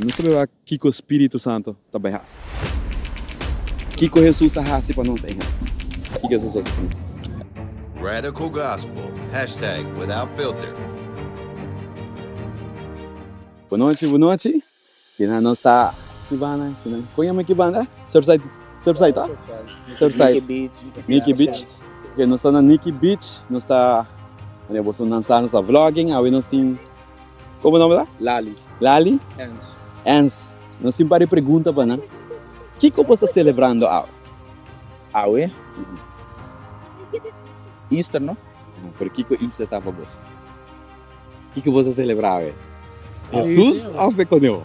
Nos ta beba kiko Spiritu Santo ta bai hasi. Kiko Hesus a hasi pa nos ehem. Kiko Hesus hasi pa nos. Radical Gospel, Hashtag Without Filter. Bo nochi, bo nochi. Kinan nos ta ki banda? Kinan kon yama ki banda? Surfside, Surfside ta? Surfside, Nikki Beach. Ok, nos ta na Nikki Beach. Nos ta, mane boso nan sa, nos ta vlogging. Awe nos tin. Como nomber ta? Lali. Lali? Ernst. Ernst. Nos tin pare pregunta pa nan. Kico bo ta celebrando awe? Awe? Easter no? Aja, pero kico Easter ta pa bos? Kico bo ta celebra awe? Jesus of e coneho?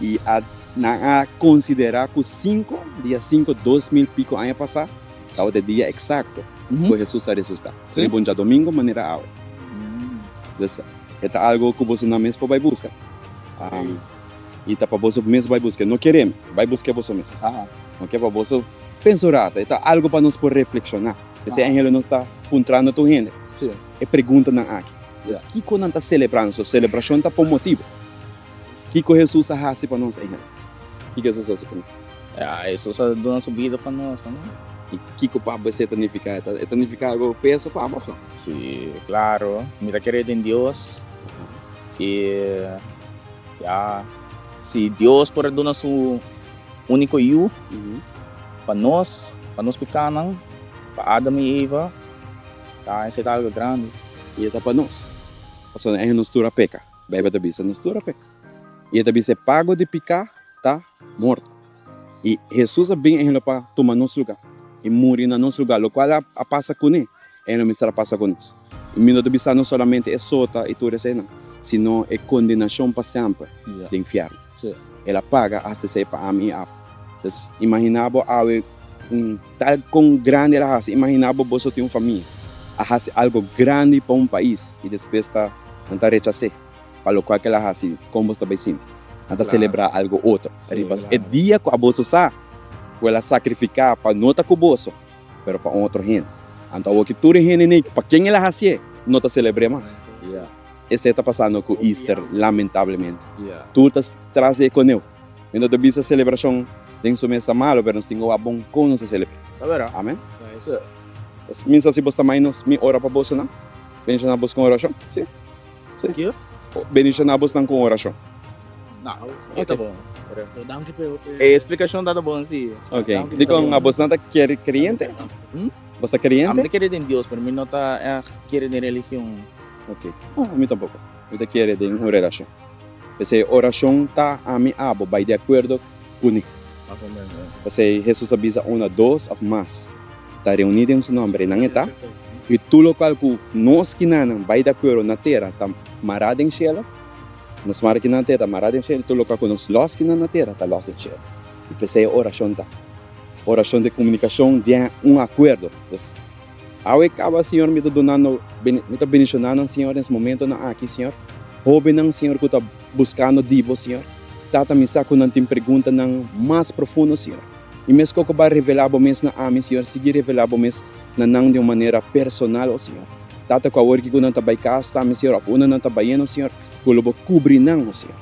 i a nan a konsiderá ku sinku, dia sinku, dos mil piko aña pasá tabata e dia eksakto ku Hesus a resusitá. So i bon dja domingo manera awe. Pues e ta algu ku bosonan mes por bai buska. I ta pa boso mes bai busk'é, no kere mi, bai busk'é boso mes. No ke pa boso pensa un ratu, e ta algu pa nos por reflekshoná. Pues e enhele nos ta puntrando tur hende e preguntanan aki. Pues kiko nan ta selebrando? So selebrashon ta pa un motibu. Kiko Hesus a hasi pa nos ejemplo? Kiko Hesus a hasi pa nos? Hesus a duna su bida pa nos, no? I kiko papa esei ta nifiká? E ta e nifiká algu peso pa abo akò? Sí, klaro. Mi ta kere den Dios i ya si Dios por a duna su úniko Yu pa nos, pa nos pikánan, pa Adam i Eva, ta esei ta algu grandi. I e ta pa nos, pasobra nos tur a peka. Bijbel ta bisa nos tur a peka, i e ta bisa e pago di piká ta mort. I Hesus a bin ehenglo pa tuma nos lugá i muri na nos lugá, lokual a pasa kuné, ehenglo mester a pasa ku nos. I mi no ta bisa nos solamente e sota i tur eseinan, sino e kondenashon pa semper den infièrnu. So, el a paga hasta esei pa ami i Apo. Pues, imaginá bo awe un tal kon grandi el a hasi. Imaginá bo boso tin un famia, a hasi algu grandi pa un pais i despues ta nan ta rechas'é pa lokual ku el a hasi. Kon boso ta bai sinti? Nan ta selebrá algu otro riba e dia ku boso sa ku el a sakrifiká pa no ta ku boso, pero pa un otro hende. Anto, awor ku tur e hende n'ei pa ken el a hasié no ta selebr'é mas. Esei ta pasando cu Easter lamentablemente. Tur ta tras di e coneu. Mi no ta bisa celebracion den su mes ta malo, pero nos tin oa bon con nos a celebra. Amen. Nos min sa si bo sta mai nos, mi ora pa bosonan. Bendicioná bos con oracion. Si. Si. Bendicioná bosnan con oracion. E explicacion ta ta bon si. Ok. Dicon abosnan ta kere creyente? Bos ta creyente? Ami ta kere den Dios, pero mi no ta kere den religion. Ok. No, ami tampoko. Mi ta kere den un relashon. P'esei orashon ta ami abo bai di akuerdo ku ni. P'esei Hesus a bisa, Unda dos òf mas ta reuní den su nòmber, ei nan e ta. I tur lokal ku nos kinanan bai di akuerdo na tera ta mará den shelu, nos mara kinan na tera ta mará den shelu, i tur lokal ku nos lòs kinan na tera ta lòs den shelu. I p'esei orashon ta orashon di komunikashon den un akuerdo. Awe caba, Señor, mi ta duna no, mi ta beniciona nan, Señor, nes momentonan aki, Señor. Hobennan, Señor, cu ta busca no di Bo, Señor. Tata, mi sa cu nan tin preguntanan mas profundo, Señor. I mesco cu Bo revela Bo mes na ami, Señor, sigui revela Bo mes na nan di un manera personal, o Señor. Tata, cu awor cu nan ta bay cas ta mi, Señor, of unda nan ta bayendo, Señor, cu lo Bo cubri nan, o Señor.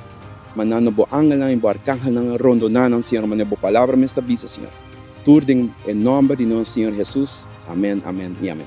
Manda no Bo angelnan i Bo arcangelnan rondona nan, Señor, manera Bo Palabra mes ta bisa, Señor. Tur den e nomber di nos Señor Jesus, amen, amen y amen.